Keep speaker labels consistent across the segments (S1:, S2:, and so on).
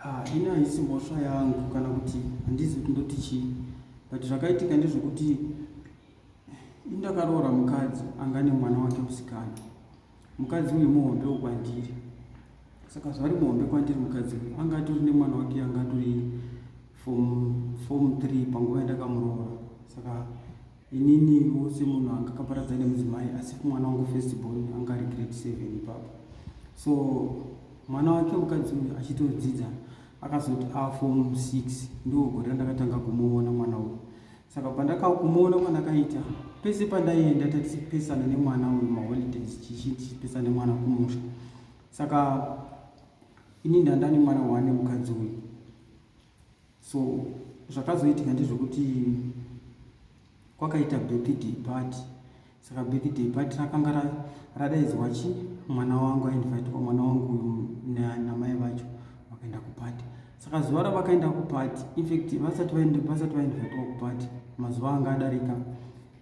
S1: Ah, ini haisi mhosva yangu kana kuti handizi kuti ndoti chii but zvakaitika ndezvekuti ini ndakaroora mukadzi anga ane mwana wake musikana mukadzi uyu muhombe wokwandiri saka zvari muhombe kwandiri mukadzi uyu anga atori nemwana wake anga atori fom fom three panguva yandakamuroora saka ininiwo semunhu anga kaparadza nemudzimai asi mwana wangu first born anga ari grade seven ipapo so mwana wake mukadzi uyu achitodzidza akazoti afom six ndo gore randakatanga kumuona mwana uyu saka pandakakumuona kwandakaita pese pandaienda tatichipesana nemwana uyu maholidays chichipesana nemwana kumusha saka ini ndandani mwana wane mukadzi uyu so zvakazoitika ndezvekuti kwakaita birthday party saka birthday party rakanga radaidzwa chi mwana wangu ainvitwa mwana wangu uyu namai vacho vakaenda kupati saka zuva ravakaenda kupati infact vasati vainvitwa kupati mazuva anga adarika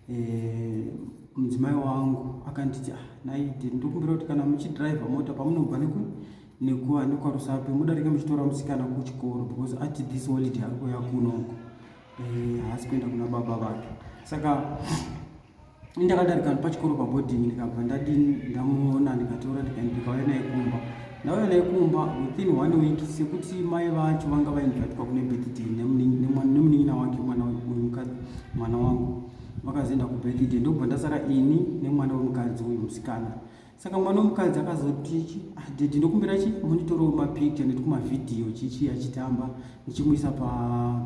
S1: eh, mudzimai wangu akanditi ah, naiti ndokumbira kuti kana muchidriver mota pamunobva neku nekuva nekwarusape mudarike muchitora musikana kuchikoro because ati this holiday ari kuya kunoko eh, haasi kuenda kuna baba vake saka ndakadarika pachikoro paboding ndikabva ndadini ndamuona ndikatora ndikaenda ndikauya naye kumba ndauya naye kumba within one week sekuti mai vacho vanga vainvitwa kune birthday nemunin'ina wake mwana uyu mukadzi mwana wangu vakazoenda kubirthday ndokubva ndasara ini nemwana wemukadzi uyu musikana saka mwana wemukadzi akazoti ah, dedi ndokumbira chi monitorawo mapicture nekuti kumavhidhiyo chichi achitamba ndichimuisa pa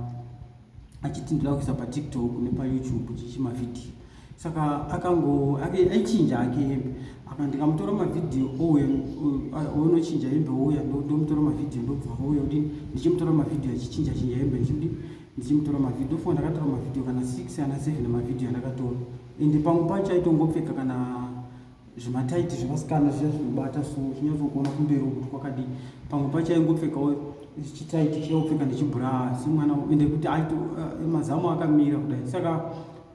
S1: achiti ndoda kuisa patiktok nepayoutube chichi mavhidhiyo saka akango aichinja hake hembe apa ndikamutora mavhidhiyo ouya onochinja hembe ouya ndomutora mavhidhiyo ndobva ouya kudini ndichimutora mavhidhiyo achichinja chinja hembe ndichikudini ndichimutora mavhidhiyo fo ndakatora mavhidhiyo kana six kana seven mavhidhiyo andakatora ende pamwe pacho aitongopfeka kana zvimataiti zvevasikana zviya zvinobata so chinyatsokuona kumberi kuti kwakadii pamwe pacho aingopfekawo chitaiti chaopfeka nechibhuraa semwana ende kuti aito eh, mazamu akamira kudai saka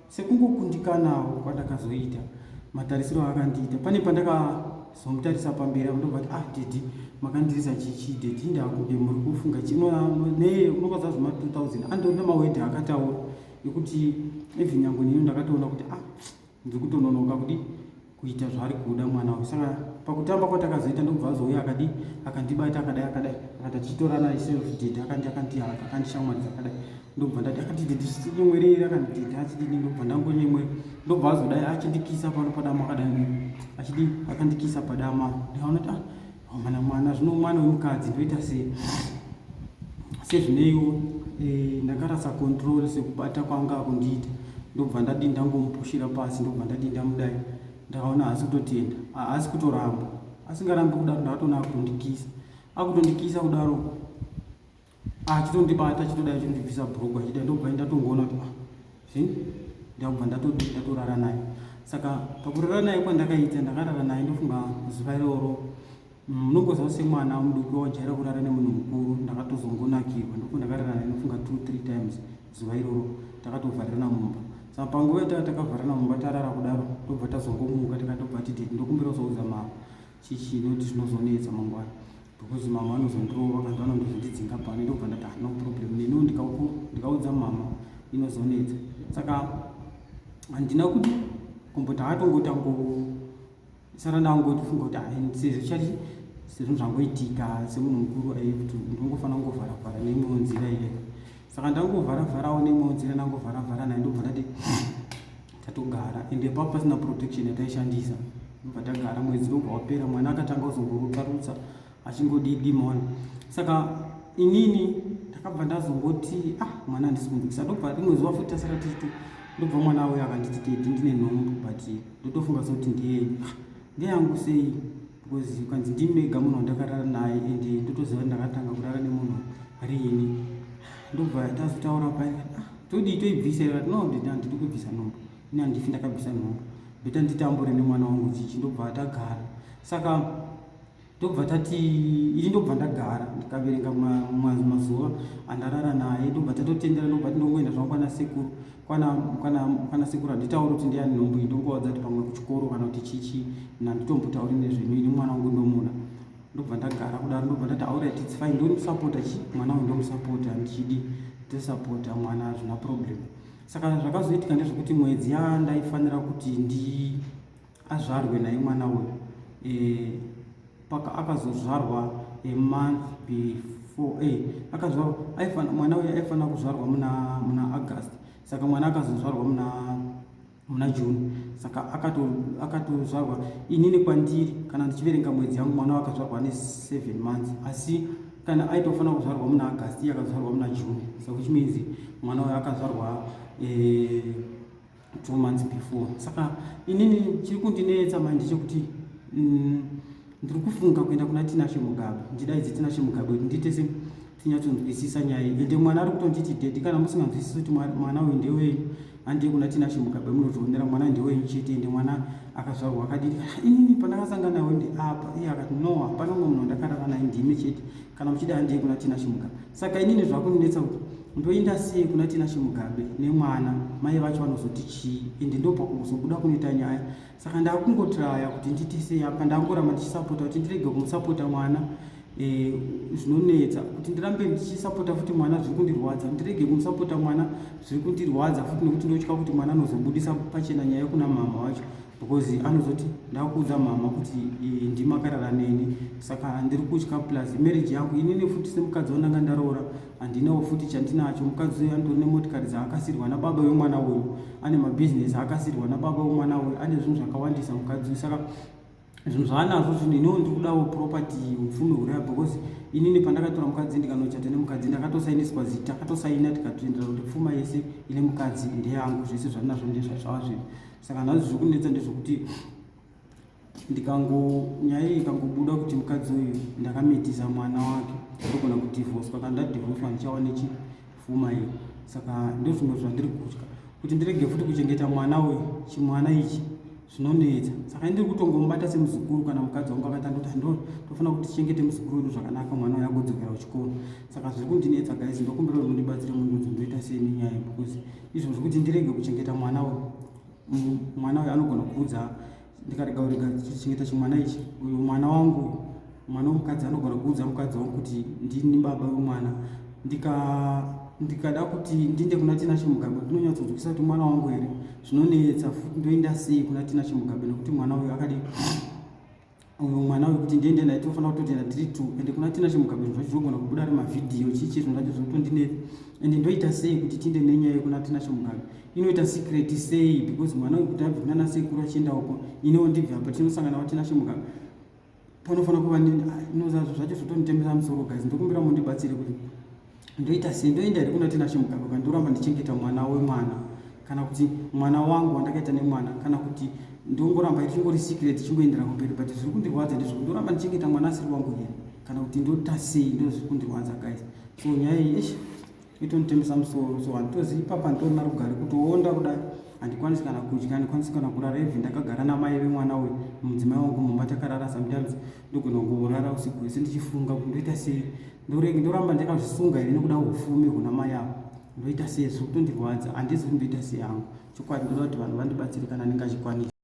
S1: sekungokundikanawo kwandakazoita matarisiro akandiita pane pandakazomutarisa pamberi akundoba kuti ah dedi makandirisa chichi dedi ndakude muri kufunga chinoneye unokwaza zvema 2000 andorina mawedhi akataura ekuti even nyango nino ndakatoona kuti ah ndiri kutononoka kudi kuita zvaari kuda mwana uyu saka pakutamba kwatakazoita ndokubva azouya akadi akandibata akadai akadai akati achitorana iselfdid akandi akandihaka akandishamwaridza akadai ndokubva ndati akatididinyemwereri akandidida achididi ndokubva ndangonyemwe ndokubva azodai achindikisa pano padama akadai achidi akandikisa padama ndikaona kuti ah mwana mwana zvino mwana wemukadzi ndoita sei sezvineiwo eh, ndakarasa control sekubata kwanga kundiita ndobva ndadii ndangomupushira pasi ndobva ndadii ndamudai ndakaona haasi kutotenda haasi kutoramba asingarambi kudaro ndakatoona akutondikisa akutondikisa kudaro achitondibata achitoda achindibvisa bhuruku achida ndobva ndatongoona kuti ah, zvi ndakubva ndatoti ndatorara naye saka pakurara naye kwandakaita ndakarara naye ndofunga zuva iroro munongoziva mm, semwana muduki wajaira kurara nemunhu mukuru ndakatozongonakirwa ndoku ndakarara naye ndofunga two three times zuva iroro takatovharirana mumba saka panguva yataa takavharirana mumba tarara kudaro tobva tazongomuka tikatobva tititi ndokumbira uzoudza mama chichi noti zvinozonetsa mangwana because mama vanozondirova kana vanondozondidzinga pano ndobva ndati ah, no problem neniwo ndikaudza mama inozonetsa saka handina kuti kumboti hatongoti angosara ndangotifunga kuti ah, sezvo chati sezvo zvangoitika semunhu mukuru aikuti ndongofanira kungovharavhara neimwewo nzira iye saka ndangovharavharawo neimwewo nzira ndangovharavhara naye ndobva ndati tatogara ende paa pasina protection yataishandisa ndobva tagara mwedzi wobva wapera mwana akatanga kuzongorutsa rutsa achingodii dimona saka inini ndakabva ndazongoti ah mwana handisi kunzwikisa ndobva rimwe zuva futi tasara tichiti ndobva mwana auya akanditi tedi ndine nhombo but ndotofunga sekuti ndiye ah, ndeyangu sei because ukanzi ndini mega munhu wandakarara naye and ndotoziva ndakatanga kurara nemunhu riini ndobva tazotaura paye ah, todii toibvisa ivati no ndida ndidi kubvisa nhombo ini handifi ndakabvisa nhombo ndoita nditambure nemwana wangu chichi ndobva tagara saka ndobva tati ini ndobva ndagara ndikaverenga mazuva andarara naye ndobva tatotendera ndobva tinongoenda zvangu kwana sekuru kwana kwana kwana sekuru handitauri kuti ndiyani nhombo iyi ndongovaudza kuti pamwe kuchikoro kana kuti chichi nanditombotauri nezvenyu ini mwana wangu ndomuda ndobva ndagara kudaro ndobva ndati aurit its fine ndomusapota chi mwana wangu ndomusapota ndichidi ndosapota mwana hazvina problem saka zvakazoitika ndezvekuti mwedzi yandaifanira kuti ndi azvarwe naye mwana uyu e, paka akazozvarwa a month before e, akazvarwa aifana mwana uyu aifanira kuzvarwa muna muna august saka mwana akazozvarwa muna muna june saka akatozvarwa akato inini kwandiri kana ndichiverenga mwedzi yangu mwana wakazvarwa ne seven months asi kana aitofanira kuzvarwa muna august iye akazvarwa muna june so which means mwana uyu akazvarwa e, two months before saka inini chiri kundinetsa manje chekuti mm, ndiri kufunga kuenda kuna tinashe mugabe ndidaidze tinashe mugabe kuti ndiite se tinyatsonzwisisa nyaya iyi ende mwana ari kutonditi dedi kana musinganzwisisi kuti mwana uyu ndewenyu handei kuna tinashe mugabe munotoonera mwana ndewenyu chete ende mwana akazvarwa akadii inini pandakasangana nawe ndeapa iye akati no hapana umwe munhu ndakarara naye ndimi chete kana muchida handei kuna tinashe mugabe saka inini zvakundinetsa kuti Ndoenda sei kuna Tinashe Mugabe nemwana mai vacho vanozoti chii ende ndopakuzobuda kunoita nyaya saka ndakungotraya kuti nditi sei apa ndangoramba ndichisapota kuti ndirege kumusapota mwana eh, zvinonetsa kuti ndirambe ndichisapota futi mwana zviri kundirwadza ndirege kumusapota mwana zviri kundirwadza futi nekuti ndotya kuti mwana anozobudisa pachena nyaya yekuna mama wacho because anozoti ndakuudza mama kuti eh, ndimakarara neni saka ndiri kutya plus marriage yangu inini futi semukadzi wandanga ndaroora handinawo futi chandinacho mukadzi uyu andori nemotikari dzaakasirwa nababa vemwana uyu ane mabhizinesi aakasirwa nababa vemwana uyu ane zvinhu zvakawandisa mukadzi uyu saka zvinhu zvaanazvo zvinhu iniwo ndiri kudawo property upfumi huraya because inini pandakatora mukadzi ndikanochata nemukadzi ndakatosainiswa zita akatosaina tikatoendera kuti pfuma yese ine mukadzi ndeyangu zvese zvandinazvo ndezvazvava zvinhu saka nhazvo zviri kunetsa ndezvokuti ndikango nyaya iyi ikangobuda kuti mukadzi uyu ndakamitisa mwana wake ndogona kudivhoswa kana ndadivhoswa ndichava nechifuma iyo saka ndozvimwe zvandiri kutya kuti ndirege futi kuchengeta mwana uyu chimwana ichi zvinonetsa saka ndiri kutongomubata semuzukuru kana mukadzi wangu akatandoti ndo tofanira kuti tichengete muzukuru wedu zvakanaka mwana uyu agodzokera kuchikoro saka zviri kundinetsa guys ndokumbira kuti mundibatsire mundudzo ndoita sei nenyaya yekukuzi izvo zvekuti ndirege kuchengeta mwana uyu mwana uyu anogona kuudza ndikarega urega chichengeta chimwana ichi uyu mwana wangu mwana wemukadzi anogona kuudza mukadzi wangu kuti ndini baba wemwana ndika ndikada kuti ndiende kuna tina chimugabe ndinonyatsodzokisa kuti mwana wangu here zvinonetsa futi ndoenda sei kuna tina chimugabe nekuti mwana uyu akadi uyu mwana uyu kuti ndiende naye tinofanira kutoenda tiri two ende kuna tina chimugabeni zvacho zvinogona kubuda ari mavhidhiyo chii chii zvinhu zvacho zvinotondinetsa ende ndoita sei kuti tiinde nenyaya yekuna tina chimugabe inoita secret sei because mwana uyu kuti abve kuna nasekuru achienda uko inewo ndibve apa tinosangana watina chimugabe panofanira kuva ah, inozazvo zvacho zvotonditemera musoro guys ndokumbira mundibatsire kuti ndoita sei ndoenda here kuna tinashe mugambagwa ndoramba ndichengeta mwana wemwana kana kuti mwana wangu wandakaita nemwana kana kuti ndongoramba ichingori secret chingoendera kumberi but zviri kundirwadza ndizvo ndoramba ndichengeta mwana asiri wangu here kana kuti ndoita sei ndozviri kundirwadza guys so nyaya iyi ish itonditembesa musoro so handitozi ipapa nditorina rugare kutoonda kudai handikwanisi kana kudya handikwanisi kana kurara even ndakagara namai vemwana uyu mudzimai wangu mumba takarara sometimes ndogona kungorara usiku hwese ndichifunga kuti ndoita sei ndorege ndoramba ndakazvisunga here nokuda ufumi huna mai avo ndoita sei zviri kutondirwadza handizi kuti ndoita sei hangu chokwadi ndoda kuti vanhu vandibatsire kana ndingachikwanisa